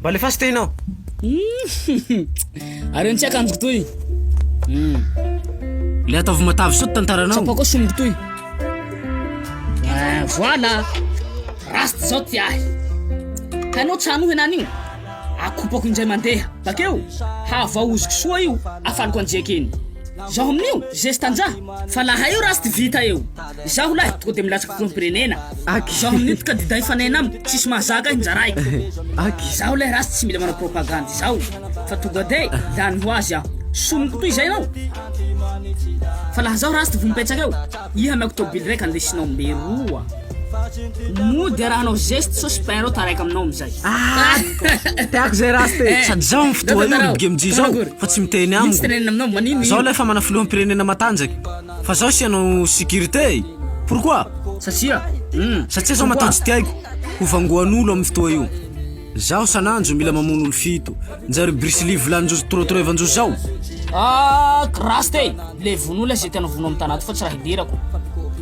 Mba alefaso toy ianao. Hum, Ary tsy akanjoko toy. Hum. Le ataovy matavy soa tantaranao. Tsapako sombiko toy. Eh, voilà. Rasta zao ty ahy. Hainao tsy hanohy anany io. Akopako indray mandeha. Bakeo, havaoziko soa io, afaliko anjeka iny. Zaho amin'io, zesta nja. Fa laha io rasta vita eo. Izaho lahy tonga de milatsaka filoham-pirenena Aky. Izaho amin'io candidat hifanaina aminy tsisy mahazaka ahy njarahiko Aky. Izaho lahy ratsy tsy mila manao propagande izao fa tonga de lany ho azy aho Soniko toy izay ianao Fa laha zaho ratsy de vomimpetsaka eo Iha ameko tôbily raika andesinao mberoa Mody arahanao zeste sao sipin reo taraiky aminao amizay Ah teako zay raste eh. Sady zaho amin'ny fotoa io ry bgemji zao fa tsy miteny amiko Zaho lahy efa mana filoham-pirenena matanjaka Fa zaho tsy hanao sécurité e! Pourquoi? Satria? Hum! Satria zaho matoa tsy tiaiko ho vangoan'olo amin'ny fotoa io. Zaho sananjo mila mamono olo fito. Njary Bruce Lee volan'Jojo torotoro evan-jojo zao? Ah! Grace te! Le vono olona ze tianao vono amin'ny tana ato fa tsy raha hiderako.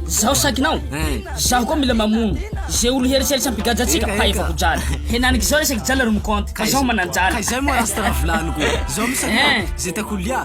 Zaho sakinao? Hein! Zaho koa mila mamono ze olo hieritseritsy hampigadra antsika fa efa ho jaly. Henaniky izao resaky jaly ry Mkonty fa zaho manan-jaly. Ka izay moa rasta raha volaniko. Zaho misy aloha ze tiako ho lia.